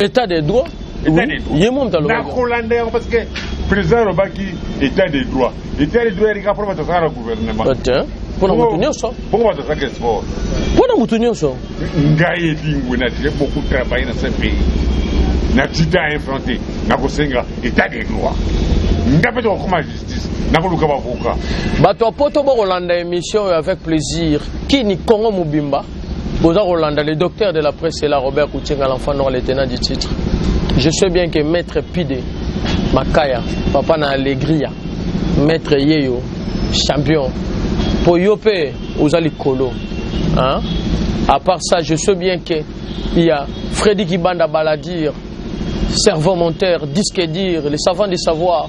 état de droit ye mo moto alobanakolanda yango parce que président alobaki état de droit état de droit yalika mpona bato azalaka na gouvernement mpona moto nyonso bongo bato azalaka sport mpona moto nyonso ngai elingwe na tire beaucoup travaille na ce pays na tita infronte nakosenga état de droit nga mpe tokokoma nakoluka bavoka bato ya poto bokolanda émission oyo avec plaisir kini congo mobimba boza kolanda le docteur de la presse ela robert kutinga l'enfant noir le tenant du titre je sais bien que maître pide makaya papa na alegria maître yeyo champion mpo yo mpe oza likolo hein? à part ça je sais bien que il y a freddy kibanda baladir cerveau monteur disque dire le savant du savoir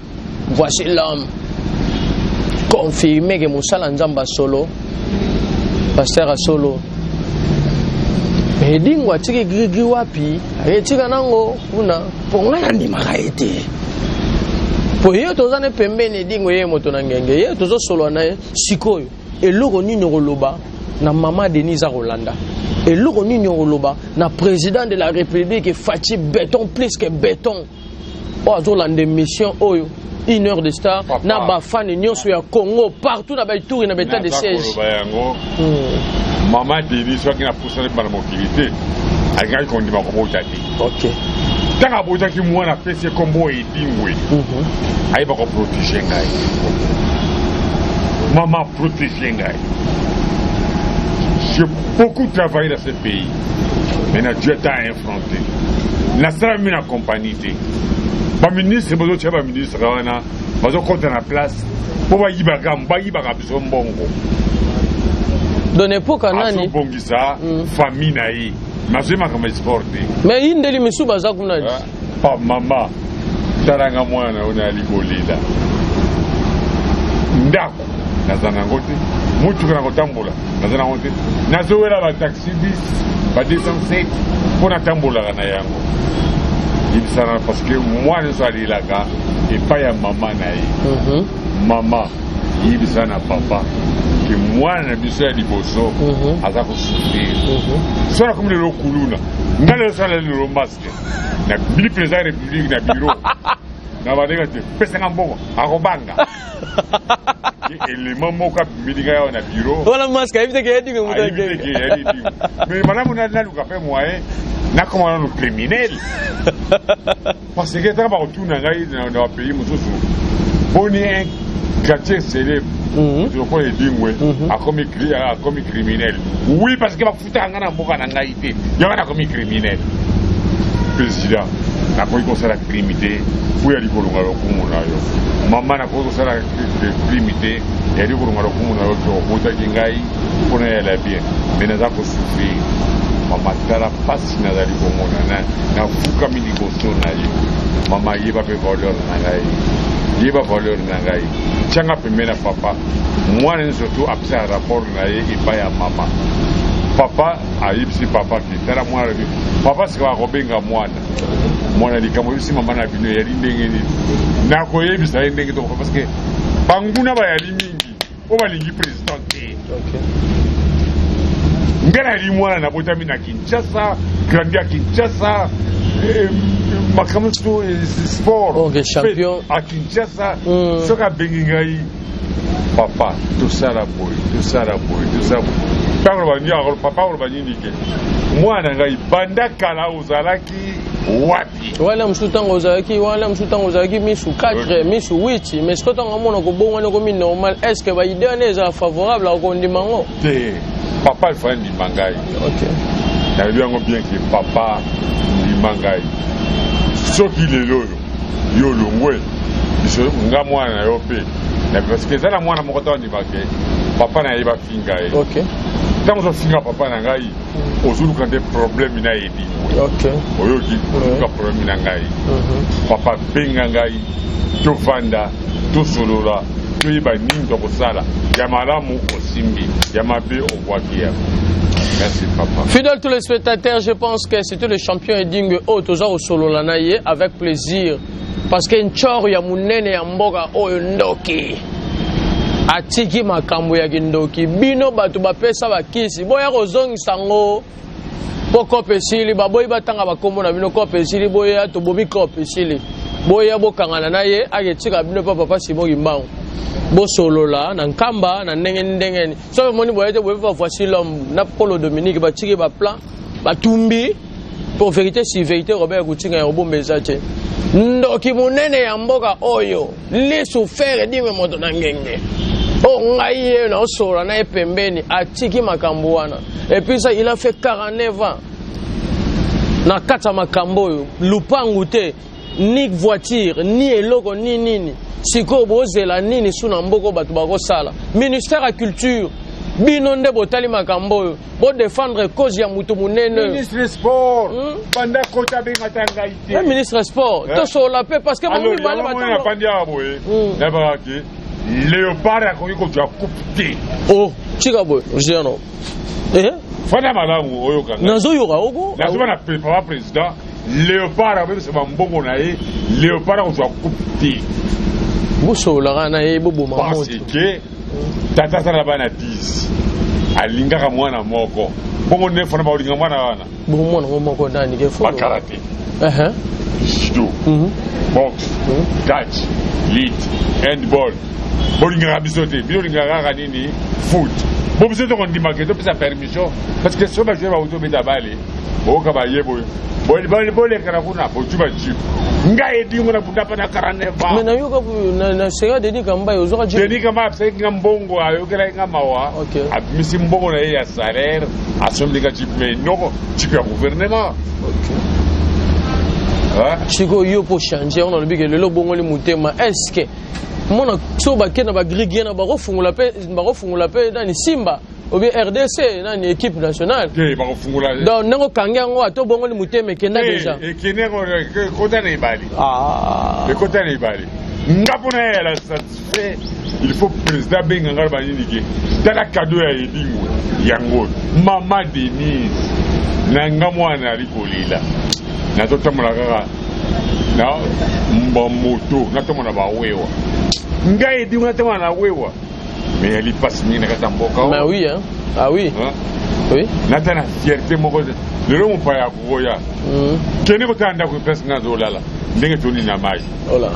Voici l'homme confirme que mosala nzamba solo pasteur ya solo edingo atiki grigri wapi ayetika nango kuna mpo ngai nandimaka ye te mpo ye toza ne pembeni edingo ye moto na ngenge ye tozosolola na ye sikoyo eloko nini okoloba na mama denise akolanda eloko nini okoloba na président de la république faci beton plus que beton oyo azolanda émission oyo une heure de star na bafane nyonso ya congo partout na baituri na baetat de siège yango hmm. mama deni soki napusani bana mokili te alingaki kondima kobota te ntango abotaki mwana apesi ye nkombo edingwe mhm. ayeba koprotege ngai mama protege ngai j'ai beaucoup travaillé dans ce pays mais na dieu ta influence nasalami na kompani te baministre bazotya baministre wana bazokɔta na place mpo bayibaka bayibaka biso mbongo azobongisa mm. famille na ye nazwi makambo ya sport te me yindeli misusu baza kuna ah, ah, mama talanga mwana na yo nayali kolela ndako naza na yango te motuka na kotambola naza na yango te nazowela bataxi bis ba 207 mpo natambolaka na yango yebisana parce que mwana nyonso alelaka epai ya mama na ye mhm. mama yebisa na papa ke mwana na biso ya liboso mhm. aza kosufrir mhm. so nakomi lelo kuluna ngai lelo sala lelo maske na bili président ya république na biro na bandeko te pesanga mbongo akobanga element moko abimeli ngai awa na biro wana maske ayebi te ke ya dingo moto ayebi te ke ya dingo mais malamu naluka mpe moyen nakoma nano criminel parce que taka bakotuna ngai na bapays mosusu boni un quartier célèbre lokola edingwe akomi criminel oui parce que Tala nga na mboka na ngai te. Yango nakomi criminel. President, nakoki kosala crime te mpo ya likolonga lokumu na yo. Mama, nakoki kosala crime te ya likolonga lokumu na yo to obotaki ngai mpo na yala bien, me naza kosufrir. Mama, tala mpasi nazali komona na nafukami liboso na yo. Mama, yeba mpe valeur na ngai yeba valeur na ngai tyanga pembeni na papa mwana nyonso to apesa rapport na ye epai ya mama papa ayebisi papa ke tala mwana na bino papa sikawa akobenga mwana mwana likambo oyebisi mama na bino eyali ndenge nini nakoyebisa ye ndenge toko parce que banguna bayali mingi oyo balingi président te ngai nayali mwana nabotami na kinshasa grandi ya kinshasa eh, makambo so eh, sport à kinshasa hmm. soki abengi ngai papa tosala boye tosala boye tosala boye ntango lobandiaka papa oloba nini ke mwana ngai banda kala ozalaki wapi wana mosusu ntango ozalaki wana mosusu ntango ozalaki misu 4 misu 8 mais siko ntango amona kobongwana ekomi normal est ce que baide wana ezala favorable akondima yango te papa efai ndima ngai nayebi yango bien ke papa ndima ngai soki lelo oyo yo olongwe biso nga mwana na yo mpe parce que eza na mwana moko ntango andima ke papa na ye bafinga ye ntango ozofinga papa na ngai mm. ozoluka nde problème na ye lingwe oyoki oluka problème na ngai mm-hmm. papa benga ngai tovanda tosolola toyeba nini tokosala ya malamu osimbi ya mabe obwaki yango merci papa fidèle tous les spectateurs je pense que C'était le champion Edingwe oyo oh, toza kosolola na ye avec plaisir parce que nchor ya munene ya mboka oyo ndoki atiki makambo ya kindoki bino bato bapesa bakisi boya kozongisa ngo mpo kope esili baboyi batanga bakombo na bino kope esili boya tobomi kope esili boya bokangana na ye aketika bino mpo papa simo kimbangu bosolola na nkamba na ndenge ndenge soki omoni boye te boyebi bavoici lhomme na polo dominique batiki baplan batumbi pour vérité si vérité robert kutinga ya obomba eza te ndoki monene ya mboka oyo lisu fere dime moto na ngenge oyo oh, ngai ye naosolola na ye pembeni atiki makambo wana epuis il a fait 49 ans na kati ya makambo oyo lupangu te ni voiture ni eloko ni nini sikoyo bozela nini su na mboko bato bakosala ministère ya culture bino nde botali makambo oyo bodefendre cause ya motu monene ministre ya sport hmm? banda kota abengata ngai te eh, ministre ya sport eh? tosolola mpe parce que bango mibale bafandi awa boye hmm. nayebaka ke leopard akoki kozwa coupe te o oh, tika boye jeno eh? fanda malamu oyoka nazoyoka oko nazoba na papa président Leopard abebisa ba mbongo na ye, Leopard akozwa coupe te. Bosololaka na ye boboma moto. Parce que tata aza na bana 10 alingaka mwana moko bongo nde fana bakolinga mwana wana bomwana ngo moko nani ke fo bakala te uh-huh. judo mhm. box mhm. catch lit handball bolingaka biso te bino olingaka kaka nini foot bo biso tokondimaka te topesa permission parce que so bajoueur bauti obeta bale boyoka baye boye bolekana kuna bozwi bajipe ngai edingo na bunda pana 49 mais nayoka na sega denis kambai ozwaka jipe denis kambai abisalaki nga mbongo ayokelaki nga mawa abimisi mbongo na ye ya salaire asombeli nga jipe mais noko jipe ya gouvernement sikoyo yo mpo change yango nalobi ke lelo obongoli motema est ce que mona so bakenda bagrigien na bakofungola mpe nani simba obi rdc nani équipe nationale te bakofungola donc ndenge okangi yango ato obongoli motema ekenda deja ekende ekota na ebale ah. ekota na ebale nga mpo na yala satisfait il faut président abenga ngai banini ke tala kado ya edingo yango mama denise na nga mwana ali kolela nazotambola kaka na moto natambola na bawewa ngai edingo natambola na wewa Mais ya lipasi mingi na kati ya mboka oyo. Mais oui hein. Ah oui. Hein? Oui. Nata na fierté moko lelo mopaya akokoya. Mm. Kende kotala ndako place nga azolala ndenge toni na mai. Ola.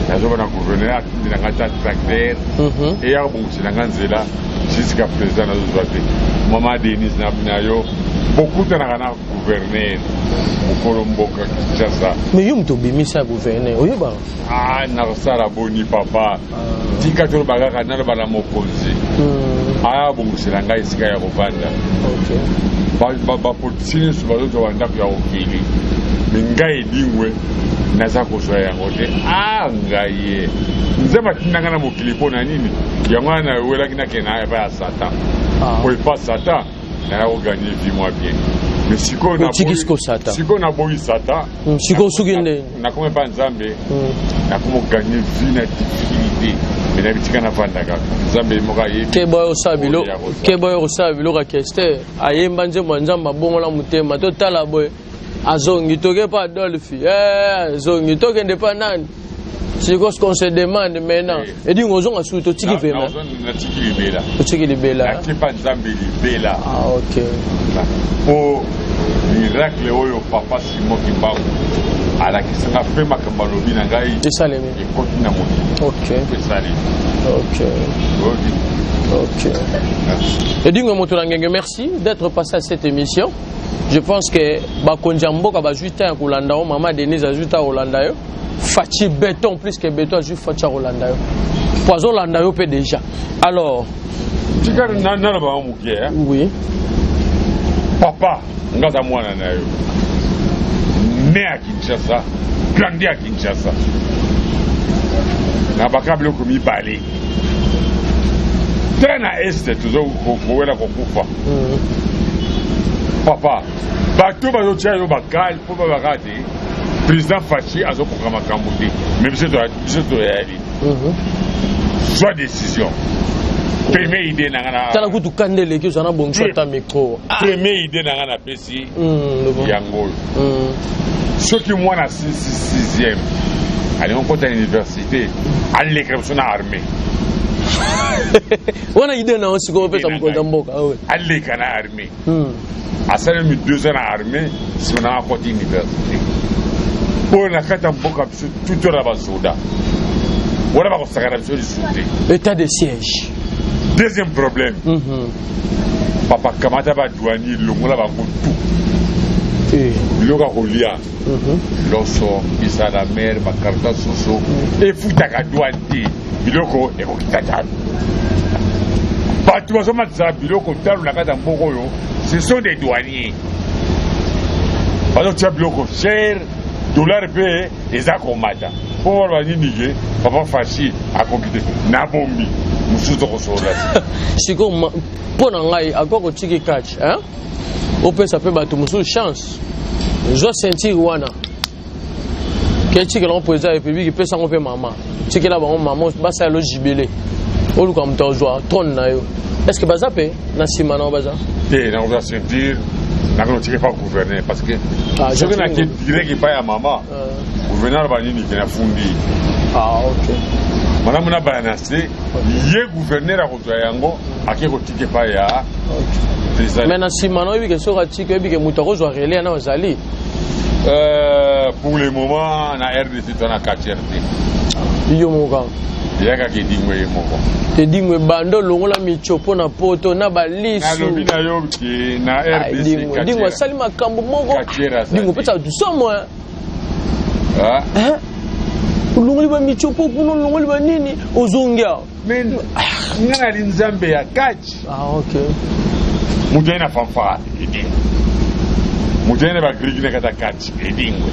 Nazoba na gouverneur atindi na nga ta tracteur. Mhm. Et ya kobongisa na nga nzela jusqu'à présent nazozwa te. Mama Denise na na yo bokutanaka na gouverneur mokolo mboka Kinshasa. Mais yo moto obimisa gouverneur oyebaka? Ah nakosala boni papa. Tika toloba kaka naloba na mokonzi hmm. abongisela ngai esika ya kovanda bapolitisi nyonso bazozwa bandako ya kokili me ngai edingwe naza kozwa yango te a ngai ye nzambe atinda ngai na mokili mpo na nini yango wana nawelaki nakenda epai ya satan ah. oyo epa satan naya ko gagner vie moi bien mais sikoyo na otiki siko sata sikoyo na boyi sata Mm, sikoyo suki nde nakoma epa nzambe Mm. nakoma gagner vie na difficulté mais na bitika nafanda kaka nzambe ye moko ayebi keba oyo osala biloko Oyo ya kosala. keba oyo kosala biloko ya kester ayemba nzembo ya nzambe abongola motema totala boye azongi toke pa adolphe eh, azongi tokende pa nani sikoyo ce qu'on se demande maintenant eh. edingo ozonga suki totiki pema otiki libela nakipa nzambe libela ah, ok po miracle oyo papa simon kimbangu alakisaka mpe makambo alobi na ngai esalemi ekoti na mokili esalemi edingo moto na ngenge merci d'être passé à cette émission je pense que bakonzi ya mboka bazwi ntan ya kolanda yo mama denise azwi ntan ya kolanda yo faci beton plus que beton azwi faci ya kolanda yo mpo azolanda yo mpe déjà alors tika nana bango moke oui papa nga aza mwana na yo ne ya kinshasa grandi ya kinshasa na baka biloko mibale te na este tozokowela kokufa papa bato bazotia yo bakale mpo babaka te président faci azokoka makambo te mais biso toyali zwa mhm. décision premier idée na ngana tala kutu kanda eleki ozana bongisa ata micro ah. premier idée na ngana apesi mhm, yango oyo mhm. soki mwana sixième alingi okota na université alekela biso na armée wana idee na yo sikoyo opesa mokonzi ya mboka ah aleka na armée hmm. asalemi deux ans na armée nsima na akoti université oyo na kati ya mboka biso tuto na basoda wana bakosakana biso lisusu te état de siège deuxième problème mhm. papa kamata badouani longola bango tout eh. biloko ya kolia loso bisa na mere bakarta soso efutaka douane te biloko ekokita talo bato bazomatisa biloko talo na kati ya mboka oyo ce sont des douaniers bazotia biloko cher dollar mpe eza komata mpo baloba nini ke papa fashi akoki te na bombi mosusu tokosolola sikoyo mpo na ngai akoki kotiki kati opesa mpe bato mosusu chance zwa ceinture wana ke tikela yango président ya république epesa yango mpe mama tikela bango mama basala lo jibele oluka moto ozwa trone na yo est ce que baza mpe na nsima na yo baza te nakozwa ceinture nakende otike pa gouverne parce que ah, soki nake direct epai ya mama ah. gouverne aloba nini ke nafundi ah, malamu na baya na se ye gouverneur ako zwa yango ake kotika epai ya president mais na nsima na oyebi ke soki atika oyebi ke moto akozwa relais yana ozali Euh, pour le moment na rdc to na kati rdc yo moko kaka yaka kedingo ye moko kedingo ebanda olongola mico mpo na poto na balisualobi na yo ke na rdcdingo asali makambo moko dingo opesa bato somo olongoli bamico mpo kuna olongoli banini ozongi awa Mais mwana li nzambe ya catch. Ah ok. Mutu na fanfara edi. Mutu na ba grigi na kata catch edi ngwe.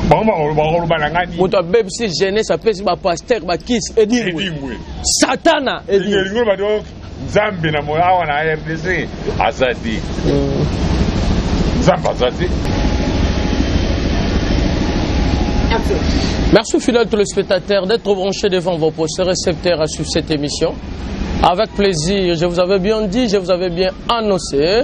Bango bakolo bana ngani. Mutu abebisi jeunesse apesi ba pasteur ba kiss edi ngwe. Satana edi. Edi ngwe ba donc Nzambe na moya awa na RDC aza te. Mm. Nzambe aza te. Merci aux fidèles téléspectateurs d'être branchés devant vos postes récepteurs à suivre cette émission. Avec plaisir, je vous avais bien dit, je vous avais bien annoncé.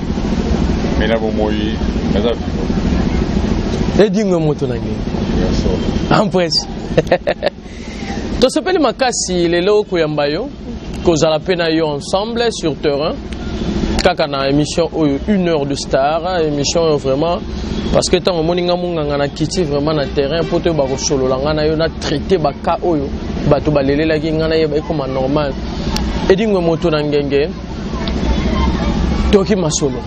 mais na bomoi naza vivo edingo moto na ngai empresse tosepeli makasi lelo koyamba yo kozala mpe na yo ensemble sur terrain kaka na émission oyo une heure de star émission oyo vraiment parce que ntango omoni nga monganga na kiti vraiment na terrain mpo toyo bakosolola nga na yo na traité baka oyo bato balelelaki nga na ye baekoma normal edingwe moto na ngenge toki masolo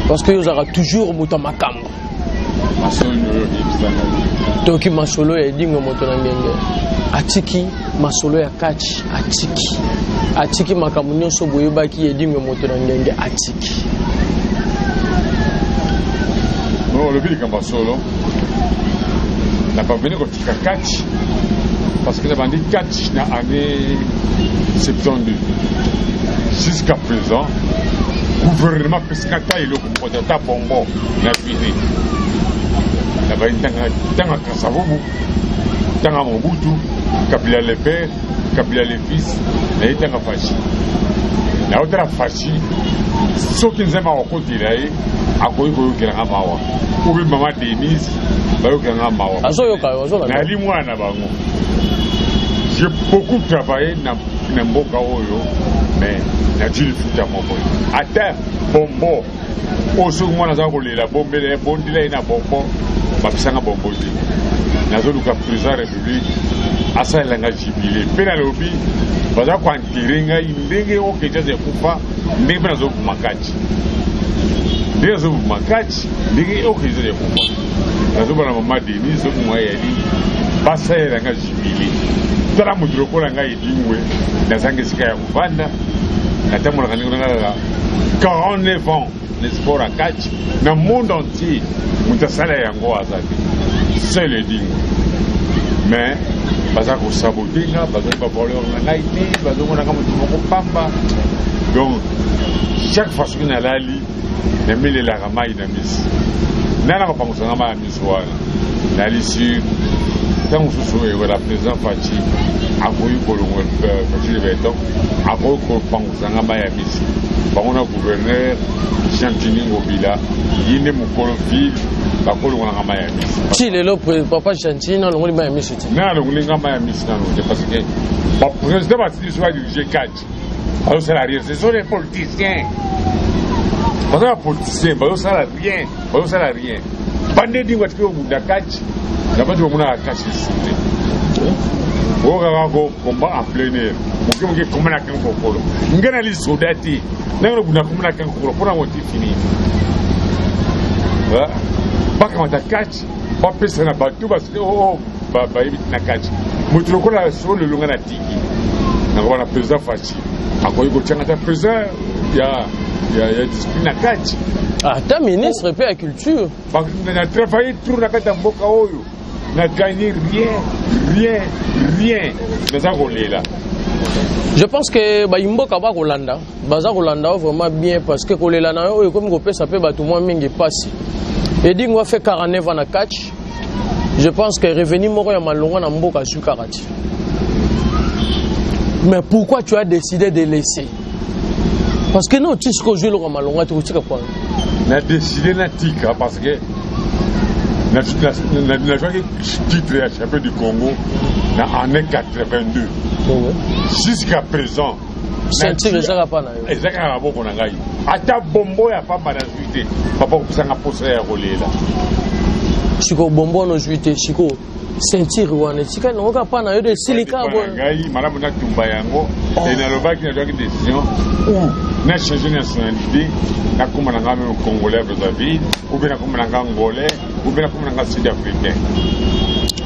parce que yo ozalaka toujours moto ya makambo toki masolo ya edingo moto na ngenge atiki masolo ya kati atiki atiki makambo nyonso boyebaki edingo moto na ngenge atiki olobi likambo ya solo na paveni Ka catch parce que nabandi catch na année 72 jusqu'à présent gouvernement apesaka ata eloko moko te ata bongo na bini nabandi ntanga kasavubu ntanga mobutu kabila le père kabila le fils naye ntanga fashi naotala fashi soki nzambe akokotela ye akoki koyokelanga mawa obi mama denise bayokela nga mawa azoyoka yo azolanda nayali mwana na bango je beaucoup travaille na, na mboka oyo mais natili futa moko ata bombo oyo soki mwana aza kolela bombela ye bondela ye na bombo bapesanga bombo te nazoluka président république asalela nga jibile mpe nalobi baza koantere ngai ndenge okejaza ekufa ndenge mpe nazokuma kati ndenge azoboma kati ndenge oke ezali ya kofa nazoba na mama denis zoboma yali basalela nga jibile tala moto lokola ngai edingwe nazanga esika ya kofanda natambolaka ndenge na ngai kaka 49 ans na sport ya kati na monde entier moto asala yango aza te seul edingwe mais baza kosabote nga bazali bavoleur na ngai te bazomonaka moto moko pamba donc chaque fois soki nalali namilelaka mai na misi nani akopangusa nga mai ya miso wana nalisi ntango mosusu ewela président faci akoki kolongola euh, faci de beton akoki kopangusa nga mai ya misi bango na gouverneur jean tini ngobila ye nde mokolo ville bakolongolanga mai ya misi ti lelo papa gentini alongoli mai ya misi ti na alongoli nga mai ya misi nano te parce que baprésident basili so badirige catch bazosala rien ce sont des politiciens baza ba politiciens bazosala rien bazosala rien bande dingo atiki obunda kaci na bati bamonaka kaci lisusu te okaka ko komba en plein air moke moke komba na kangi kokolo ngai na lisoda te ndenge nobunda komba na kangi kokolo mpo na moti fini bakamata kaci bapesa na bato bayebi na kaci moto lokola solo lolonga na na wana president faci akoki kotyanga ata president ya ya ya discipline na kati ata ministre mpe ya culture Ba- na- na travaille tour na kati ya mboka oyo na gagne rien rien rien naza kolela je pense que bayimboka bakolanda baza kolanda yo vraiment bien parce que kolela na yo oyo ekomi kopesa mpe bato mwa mingi mpasi edingo afe 49 ans na catch je pense que revenu moko ya malonga na mboka azwi kaka ti mais pourquoi tu as décidé de laisser parce que non ti sikoyo ozwi eloko ya malonga te kotika kwana na décidé natika parce que nazwaki titre ya champion du congo na année 82 jusqu'à présent ceinture eza kapa na yo eza kaka maboko na ngai ata bombo ya pamba nazwi te papa kopesanga mposa ya kolela sikoyo bombo wana ozwi te sikoyo ceinture wana etikali nango kaka mpa na yo de esilika ngai malamu natumba yango oh. e nalobaki nazwaki décision ou na change nationalité nakoma na ngai meme congolais brazzaville ou mpe nakoma na ngai angolais ou mpe nakoma na ngai sud africain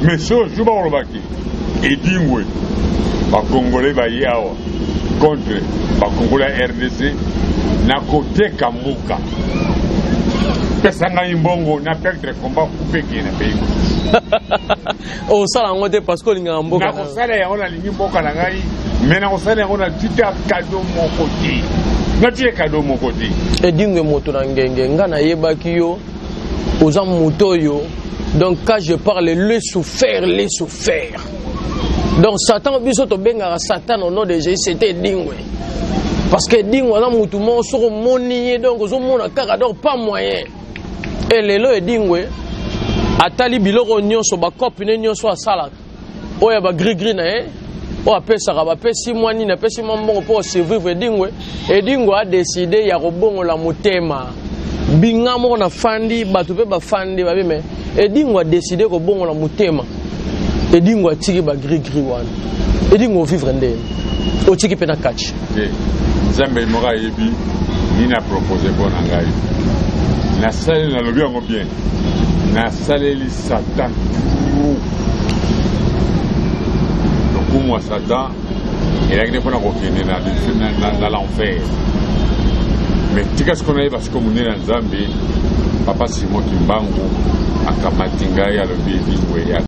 mais so jour bakolobaki Edingwe ba congolais baye awa contre ba congolais ya rdc na koteka mboka pesa ngai mbongo na perdre combat kupeke na pays osala yango te parce que olingaka mboka nakosala yango nalingi mboka na ngai me nakosala yango na tika kado moko te natie kado moko te edingwe moto na ngenge ngai nayebaki yo oza moto oyo donc quand je parle le souffert le souffert donc satan biso tobengaka satan au nom de jésus c'était dingwe parce que dingwe aza motu moko soki omoni ye donc ozomona kaka donc pas moyen e lelo edingwe atali biloko nyonso bakope ne nyonso asalaka oyo ya bagrigri na ye oyo apesaka bapesi mwa nini apesi mwa mbongo mpo osurvivre edingwe edingwe adeside ya kobongola motema binga moko na fandi bato mpe bafandi babi me edingwe adeside kobongola motema edingwe atiki bagrigri wana edingwe ovivre ndeni otiki mpe na kachi nzambe moko ayebi nini apropose mpo na ngai nasaleli nalobi yango bien nasaleli Satan toujours lokumu ya Satan elaki nde mpona kokende na l'enfer me tika siko nayeba siko monene ya Nzambe Papa Simon Kimbangu akamati ngai alobi elingo ya